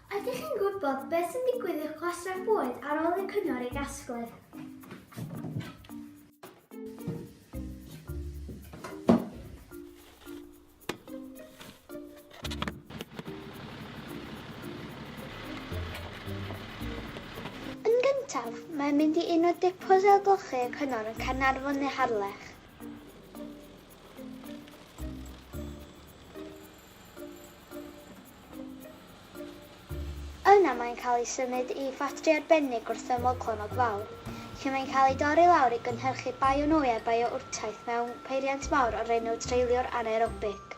Ydych chi'n gwybod beth sy'n digwydd i'ch gwastraff bwyd ar ôl i'r cyngor ei gasglu? Yn gyntaf, mae'n mynd i un o depos ailgylchu y cyngor yn Caernarfon neu Harlech. Yna mae'n cael ei symud i ffatri arbennig wrth ymyl Clonnog Fawr, lle mae'n cael ei dorri lawr i gynhyrchu bionwy a biourtaith mewn peiriant mawr o'r enw Treiliwr Anaerobic.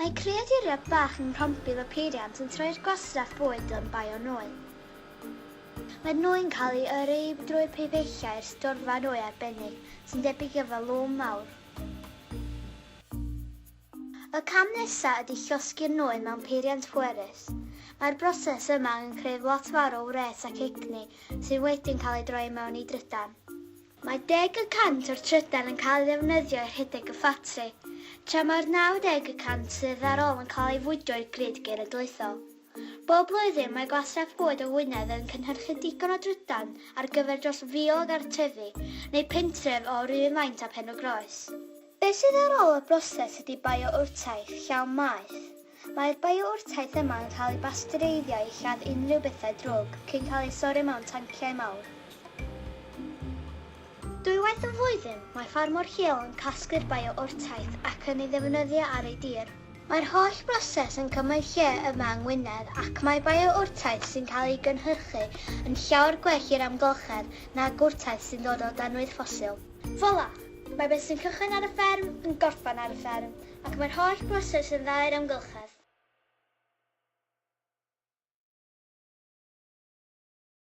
Mae creaduriaid bach yng Nghronbil y Peiriant yn troi'r gwastraff bwyd yn bionwy. Maen nhw'n cael eu yrru drwy pibellau i'r storfa nwy arbennig, sy'n debyg i falŵn mawr. Y cam nesaf ydy llosgi'r nwy mewn peiriant pwerus. Mae'r broses yma angen creu lot fawr o wres ac egni sydd wedyn cael eu droi i mewn i drydan. Mae deg y cant o'r trydan yn cael ei ddefnyddio i rhedeg y ffatri, tra mae'r 90 y cant sydd ar ôl yn cael ei fwydo i'r grid genedlaethol. Bob blwyddyn, mae Gwastraff Bwyd o Wynedd yn cynhyrchu digon o drydan ar gyfer dros 1,000 o gartrefi neu pentref o'r un faint â Pen-y-groes. Beth sydd ar ôl y broses ydy bio-wrtaith llawn maeth, Mae'r biourtaith yma yn cael ei basteureiddio i lladd unrhyw bethau drwg cyn cael ei sorrio mewn tanciau mawr. Dwywaith y flwyddyn, mae ffarmwr lleol yn casglu'r biourtaith ac yn ei ddefnyddio ar ei dir. Mae'r holl broses yn cymryd lle yma yng Ngwynedd ac mae biourtaith sy'n cael ei gynhyrchu yn llawer gwell i'r amgylchedd nag wrtaith sy'n dod o danwydd ffosil. Fola! Mae beth sy'n cychwyn ar y fferm yn gorffen ar y fferm. Ac mae'r holl broses yn dda i'r amgylchedd.